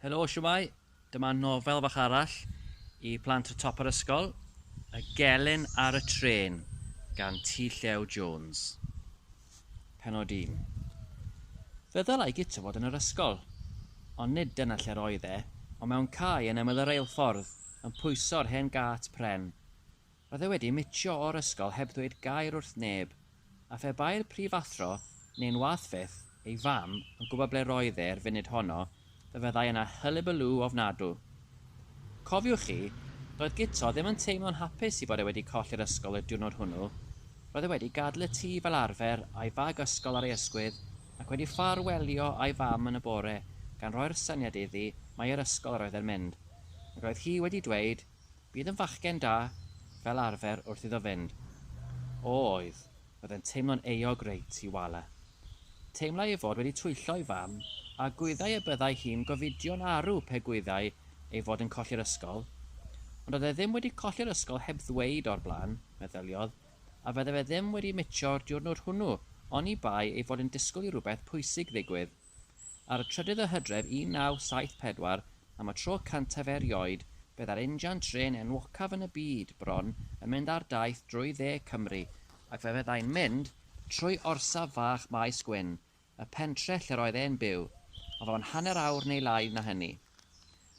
Helo, shwmae? Dyma nofel fach arall i plant y top o'r ysgol, Y Gelyn ar y Trên gan T. Llew Jones. Pennod 1. Fe ddylai Guto fod yn yr ysgol. Ond nid dyna lle'r oedd e, ond mewn cae yn ymyl y reilffordd, yn pwyso'r hen gât pren. Roedd e wedi mitio o'r ysgol heb ddweud gair wrth neb, a phe bai'r prifathro, neu'n wath fyth, ei fam, yn gwybod ble roedd e 'r funud honno, fe fyddai yna hyllybyllw ofnadw. Cofiwch chi, doedd Guto ddim yn teimlo'n hapus i fod e wedi colli'r ysgol y diwrnod hwnnw, roedd e wedi gadl y tŷ fel arfer a'i fag ysgol ar ei ysgwydd ac wedi ffar welio a'i fam yn y bore gan roi'r syniad iddi mai i'r ysgol yr oedd e'n mynd ac roedd hi wedi dweud Bydd yn fachgen da, fel arfer, wrth iddo fynd. O, oedd, roedd e'n teimlo'n euog reit i wale. Teimlai ei fod wedi twyllo ei fam, a gwyddai y byddai hi'n gofidio'n arw pe gwyddai ei fod yn colli'r ysgol. Ond oedd e ddim wedi colli'r ysgol heb ddweud o'r blaen, meddyliodd, a fydde fe ddim wedi mitio'r diwrnod hwnnw oni bai ei fod yn disgwyl i rywbeth pwysig ddigwydd. Ar y trydydd o Hydref 1974, am y tro cyntaf erioed, fe ddâr injan trên enwocaf yn y byd, bron, yn mynd ar daith drwy dde Cymru, ac fe fyddai'n mynd trwy orsaf fach Maes Gwyn, y pentre lle'r oedd e'n byw, o fewn hanner awr neu lai na hynny.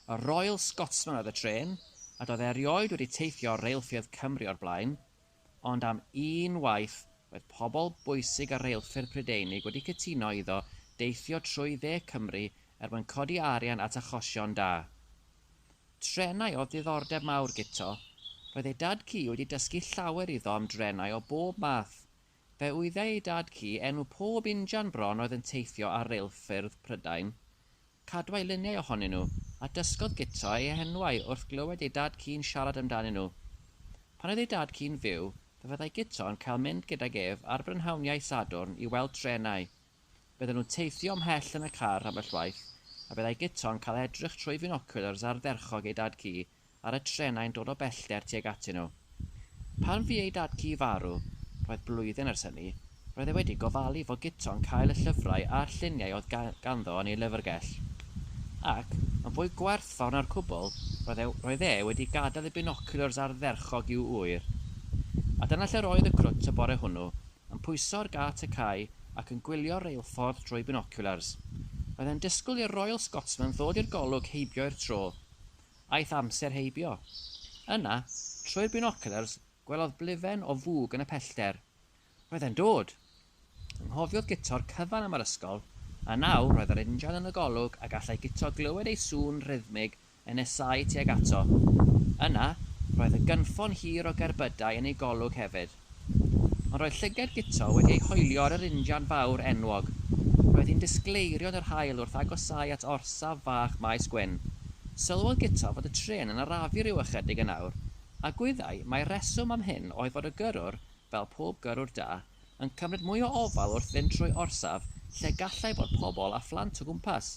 Y Royal Scotsman oedd y trên, a doedd e erioed wedi teithio ar reilffyrdd Cymru o'r blaen, ond am un waith, roedd pobl bwysig ar reilffyrdd Prydeinig wedi cytuno iddo deithio trwy dde Cymru er mwyn codi arian at achosion da. Trenau oedd diddordeb mawr Guto. Roedd ei dad-cu wedi dysgu llawer iddo am drenau o bob math. Fe wyddai ei dad-cu enw pob injan bron oedd yn teithio ar reilffyrdd Prydain. Cadwai luniau ohonyn nhw, a dysgodd Guto eu henwau wrth glywed ei dad ci'n siarad amdanyn nhw. Pan oedd ei dad ci'n fyw, fe fyddai Guto yn cael mynd gydag ef ar brynhawniau Sadwrn i weld trenau. Bydden nhw'n teithio ymhell yn y car ambell waith, a byddai Guto'n cael edrych trwy finocwlars ardderchog ei dad ci ar y trenau'n dod o bellter tuag atyn nhw. Pan fu ei dad-cu farw, roedd blwyddyn ers hynny, roedd e wedi gofalu fo Guto'n cael y llyfrau a'r lluniau oedd ganddo yn ei lyfrgell. Ac, yn fwy gwerthfawr na'r cwbl, roedd e, roedd e wedi gadael ei binoculars ardderchog i'w ŵyr. A dyna lle roedd y crwt y bore hwnnw, yn pwyso ar gât y cae ac yn gwylio'r reilffordd drwy binoculars. Roedd e'n disgwyl i'r Royal Scotsman ddod i'r golwg heibio i'r tro. Aeth amser heibio. Yna, trwy'r binoculars, gwelodd blifen o fwg yn y pellter. Roedd e'n dod! Anghofiodd guto'r cyfan am yr ysgol, a nawr roedd yr injan yn y golwg a gallai Guto glywed ei sŵn rhythmig yn nesáu tuag ato. Yna, roedd y gynffon hir o gerbydau yn ei golwg hefyd. Ond roedd llyged Guto wedi ei hoelio ar yr injan fawr enwog. Roedd hi'n disgleirio yn yr haul wrth agosáu at orsaf fach Maes Gwyn. Sylwodd Guto fod y trên yn arafu ryw ychydig yn awr, a gwyddai mai'r rheswm am hyn oedd fod y gyrrwr, fel pob gyrrwr da, yn cymryd mwy o ofal wrth fynd trwy orsaf lle gallai fod pobl a phlant o gwmpas.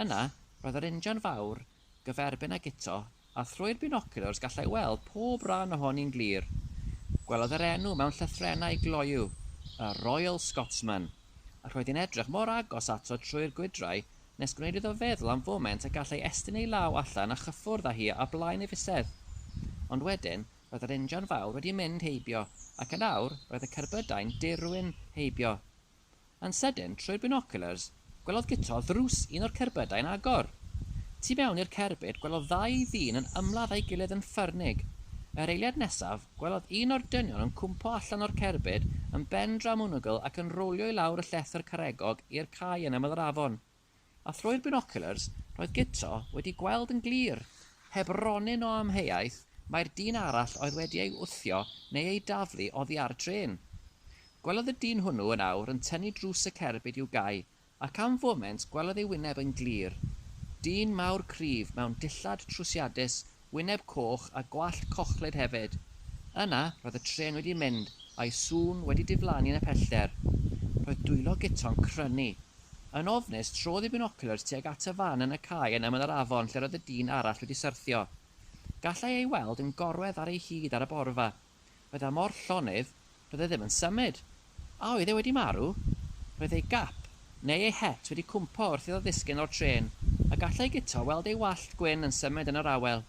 Yna, roedd yr injan fawr, gyferbyn ag eto, a thrwy'r binoculars gallai weld pob ran ohoni'n glir. Gwelodd yr enw mewn llythrennau gloyw, y Royal Scotsman, ac roedd hi'n edrych mor agos ato trwy'r gwydrau nes gwneud iddo feddwl am foment y gallai estyn ei law allan a chyffwrdd â hi a blaen ei fisedd. Ond wedyn, roedd yr injan fawr wedi mynd heibio, ac yn awr, roedd y cerbydau'n dirwyn heibio. Yn sydyn, trwy'r binoculars, gwelodd Guto ddrws un o'r cerbydau yn agor. Tu mewn i'r cerbyd, gwelodd ddau ddyn yn ymladd â'i gilydd yn ffyrnig. Yr eiliad nesaf, gwelodd un o'r dynion yn cwmpo allan o'r cerbyd yn ben-draw-mwngl ac yn rowlio i lawr y llethr caregog i'r cae yn ymyl yr afon. a thrwy'r binoculars roedd Guto wedi gweld yn glir, heb ronyn o amheuaeth, mai'r dyn arall oedd wedi ei wthio neu ei daflu oddi ar y trên. Gwelodd y dyn hwnnw yn awr yn tynnu drws y cerbyd i'w gau, ac am foment gwelodd ei wyneb yn glir. Dyn mawr cryf mewn dillad trwsiadus wyneb coch a gwallt cochlyd hefyd. Yna, roedd y trên wedi mynd, a'i sŵn wedi diflannu yn y pellter. Roedd dwylo Guto'n crynu. Yn ofnus, trodd ei binoculars tuag at y fan yn y cae yn ymyl yr afon lle roedd y dyn arall wedi syrthio. Gallai ei weld yn gorwedd ar ei hyd ar y borfa, Bydda mor llonydd, bydde ddim yn symud. A oedd e wedi marw? Roedd ei gap, neu ei het, wedi cwmpo wrth iddo ddisgyn o'r trên, a gallai Guto weld ei wallt gwyn yn symud yn yr awel.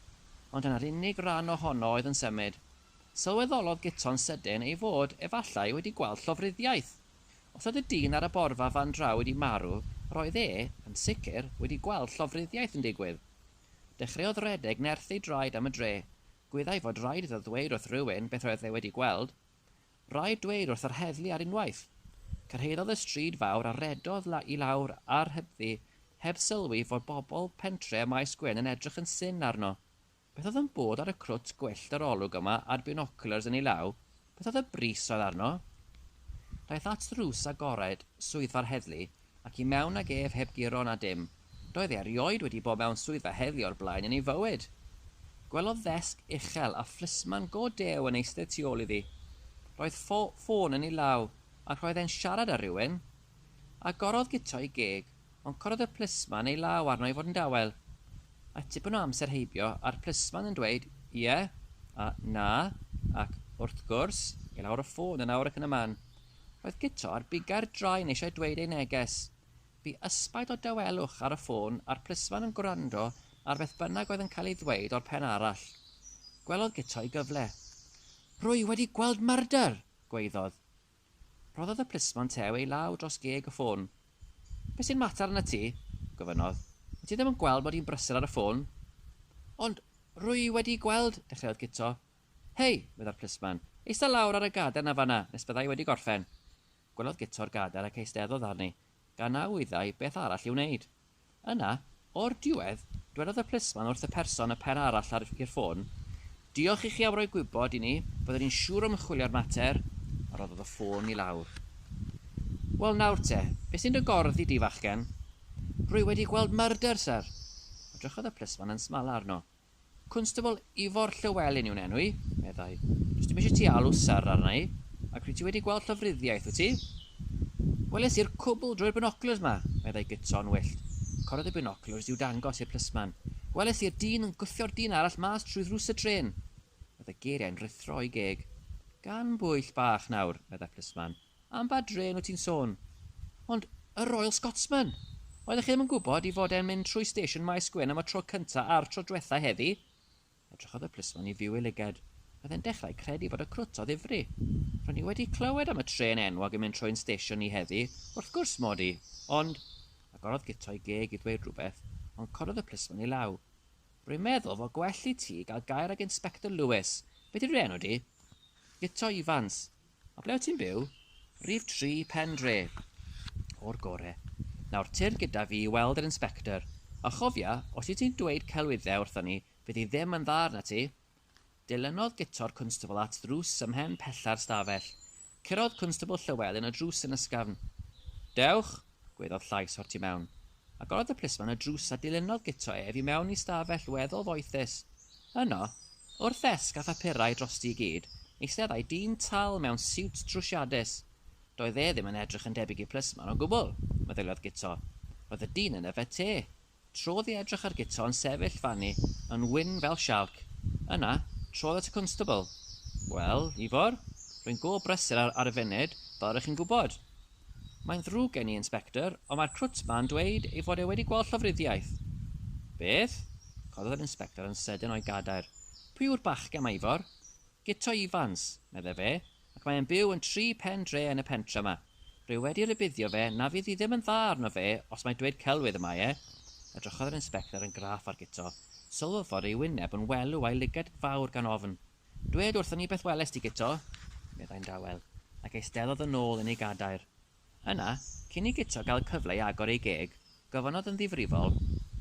Ond dyna'r unig ran ohono oedd yn symud. Sylweddolodd Guto'n sydyn ei fod, efallai, wedi gweld llofruddiaeth. Os oedd y dyn ar y borfa fan draw wedi marw, roedd e, yn sicr, wedi gweld llofruddiaeth yn digwydd. Dechreuodd redeg nerth ei draed am y dre. Gwyddai fod raid iddo ddweud wrth rywun beth roedd e wedi gweld. Raid dweud wrth yr heddlu ar unwaith. Cyrhaeddodd y stryd fawr a rhedodd i lawr ar hybddi heb sylwi fod bobl pentre Maes Gwyn yn edrych yn syn arno. Beth oedd yn bod ar y crwt gwyllt yr olwg yma a'r binoculars yn ei law? Beth oedd y bris roedd arno? Daeth at ddrws agored swyddfa'r heddlu ac i mewn ag ef heb guro na dim. Doedd e erioed wedi bod mewn swyddfa heddlu o'r blaen yn ei fywyd. Gwelodd ddesg uchel a phlismon go dew yn eistedd tu ôl iddi. Roedd ffôn yn ei law ac roedd e'n siarad â rhywun. Agorodd guto ei geg Ond cododd y plisman ei law arno i fod yn dawel. A tipyn o amser heibio, a'r plisman yn dweud, Ie, a Na, ac Wrth gwrs, i lawr y ffôn yn awr ac yn y man. Roedd Guto ar biga'r drain eisiau dweud ei neges. Bu ysbaid o dawelwch ar y ffôn a'r plisman yn gwrando ar beth bynnag oedd yn cael ei ddweud o'r pen arall. Gwelodd Guto ei gyfle. Rwy wedi gweld myrdr! gwaeddodd. Rhoddodd y plismon tew ei law dros geg y ffôn. Be' sy'n mater arnat ti? gofynnodd. Wyt ti ddim yn gweld mod i'n brysur ar y ffôn? Ond rwy i wedi gweld, dechreuodd Guto. Hei! meddai'r plismon. Eista lawr ar y gadair 'na fan 'na nes bydda i wedi gorffen. Gwelodd Guto'r gadair ac eisteddodd arni. gan a wyddai beth arall i'w wneud. Yna, o'r diwedd, dwedodd y plismon wrth y person y pen arall ar i'r ffôn, Diolch i chi am roi gwybod i ni, byddwn ni'n siŵr o ymchwilio'r mater, a rhoddodd y ffôn i lawr. Wel nawr te, be sy'n dy gorddi di, fachgen? Rwy wedi gweld murder, syr! Edrychodd y plismon yn smala arno. Constable Ifor Llywelyn yw'n enw i, meddai. Does dim eisiau ti alw Syr arna i. Ac wyt ti wedi gweld llofruddiaeth, wyt ti? Weles i'r cwbl drwy'r binoculars 'ma, meddai Guto'n wyllt. Corodd y binoculars i'w dangos i'r plisman. Weles i'r dyn yn gwthio'r dyn arall mas trwy ddrws y trên. Roedd y geiriau'n ruthro o'i geg. Gan bwyll bach nawr, meddai'r plisman. Am ba drên wyt ti'n sôn? Ond y Royal Scotsman! Oeddech chi ddim yn gwybod i fod e'n mynd trwy stesion Maes Gwyn am y tro cyntaf a'r tro dwetha heddi? Edrychodd y plismon i Fyw ei lygad. Oedd e'n dechrau credu fod y crwt o ddifri. Ro'n i wedi clywed am y trên enwog yn mynd trwy ein stesion ni heddi, wrth gwrs, Maudy, ond... Agorodd Guto ei geg i ddweud rhywbeth, ond cododd y plismon ei law. Rwy'n meddwl fo gwell i ti gael gair ag Inspector Lewis. Beth yw dy enw di? Guto Ifans. A ble wyt ti'n byw? Rhif tri Pen Dre. O'r gore. Nawr, tir gyda fi i weld yr inspector. A chofia, os wyt ti'n dweud celwyddau wrthon ni, fydd hi ddim yn dda arnat ti. Dilynodd Guto'r Cwnstabl at ddrws ymhen pella'r stafell. Curodd Cwnstabl Llywelyn y drws yn ysgafn. Dewch! gwaeddodd llais o'r tu mewn. Agorodd y plismon y drws a dilynodd Guto ef i mewn i stafell weddol foethus. Yno, wrth ddesg â phapurau drosti i gyd, eisteddai dyn tal mewn siwt trwsiadus. Doedd e ddim yn edrych yn debyg i plismon o gwbl, meddyliodd Guto. Roedd y dyn yn yfed te. Trodd i edrych ar Guto yn sefyll fanni yn wyn fel sialc. Yna, trodd at y cwnstabl. Wel, Ifor, rwy'n go brysur ar y funud, fel rŷch chi'n gwybod. Mae'n ddrwg gen i, Inspector, ond mae'r crwt 'ma'n dweud ei fod e wedi gweld llofruddiaeth. Beth? Cododd yr Inspector yn sydyn o'i gadair. Pwy yw'r bachgen 'ma, Ifor? Guto Ifans, medde fe, ac mae e'n byw yn tri phen dre yn y pentre 'ma. Rwy wedi rhybuddio fe na fydd hi ddim yn dda arno fe os mae dweud celwydd y mae e. Edrychodd yr Inspector yn graff ar Guto. Sylwodd fod ei wyneb yn welw a'i lygad fawr gan ofn. Dwed wrthon ni beth welest ti Guto, meddai'n dawel, ac eisteddodd yn ôl yn ei gadair. Yna, cyn i Guto gael cyfle i agor ei geg, gofynnodd yn ddifrifol,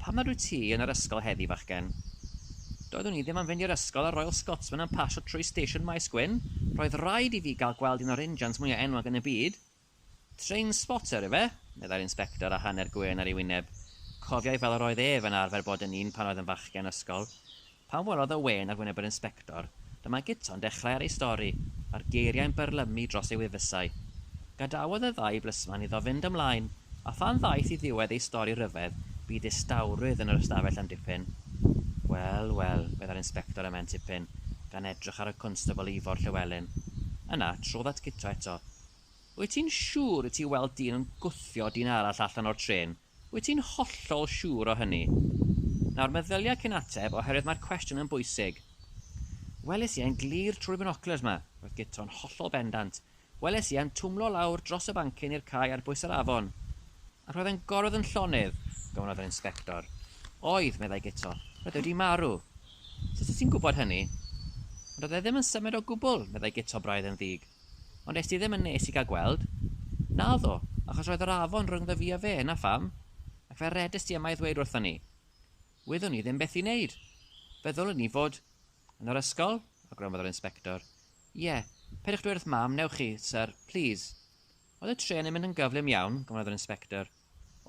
Pam nad wyt ti yn yr ysgol heddi, fachgen? Doeddwn i ddim am fynd i'r ysgol â'r Royal Scotsman yn pasio trwy Station Maes Gwyn, roedd raid i fi gael gweld un o'r injans mwya enwog yn y byd! Trainspotter yw e, meddai'r inspector â hanner gwên ar ei wyneb. Cofiai fel yr oedd ef yn arfer bod yn un pan oedd yn fachgen ysgol. Pan welodd y wên ar wyneb yr inspector, dyma guto'n dechrau ar ei stori, a'r geiriau'n byrlymu dros ei wifysau. Gadawodd y ddau blisman iddo fynd ymlaen, a phan ddaeth i ddiwedd ei stori rhyfedd, bu distawrwydd yn yr ystafell am dipyn. Wel, wel, meddai'r inspector ymhen tipyn, gan edrych ar y Constable Ifor Llewelyn. Yna, trodd at Guto eto, Wyt ti'n siŵr y ti weld dyn yn gwthio dyn arall allan o'r trên? Wyt ti'n hollol siŵr o hynny? Nawr, meddylia cyn ateb, oherwydd mae'r cwestiwn yn bwysig. Welis i e'n glir trwy'r binoclers 'ma, roedd Guto'n hollol bendant. Weles i e'n twmlo lawr dros y bancyn i'r cae ar bwys yr afon. A roedd e'n gorwedd yn llonydd, gofynnodd yr inspector. Oedd, meddai Guto. Roedd e wedi marw. Sut wyt ti'n gwybod hynny? Ond oedd e ddim yn symud o gwbl, meddai Guto braidd yn ddig. Ond est ti ddim yn nes i gael gweld? Naddo, achos roedd yr afon rhyngddo fi a fe, 'na pham. Ac fe redest ti yma i ddweud wrthon ni. Wyddwn ni ddim beth i wneud. Fe ddylwn ni fod... yn yr ysgol? awgrymodd yr inspector. Ie, peidiwch dweud wrth Mam, wnewch chi, syr, plîs. Oedd y trên yn mynd yn gyflym iawn, gofynnodd yr inspector.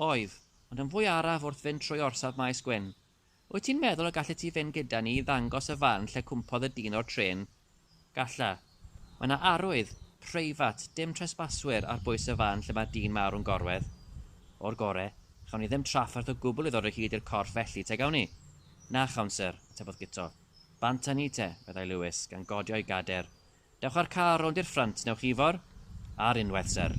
Oedd, ond yn fwy araf wrth fynd trwy orsaf Maes Gwyn. Wyt ti'n meddwl y gallet ti fynd gyda ni i ddangos y fan lle cwmpodd y dyn o'r trên? Galla. Mae yna arwydd, preifat, dim tresbaswyr ar bwys y fan lle mae'r dyn mawr yn gorwedd. O'r gore, chawn ni ddim trafferth o gwbl i ddod o hyd i'r corff felly, te gawn ni? Na chawn, syr, atebodd Guto. Bant â ni te, meddai Lewis, gan godio ei gader. Dewch â'r car rownd i'r ffrynt, wnewch chi, Ifor? Ar unwaith, syr.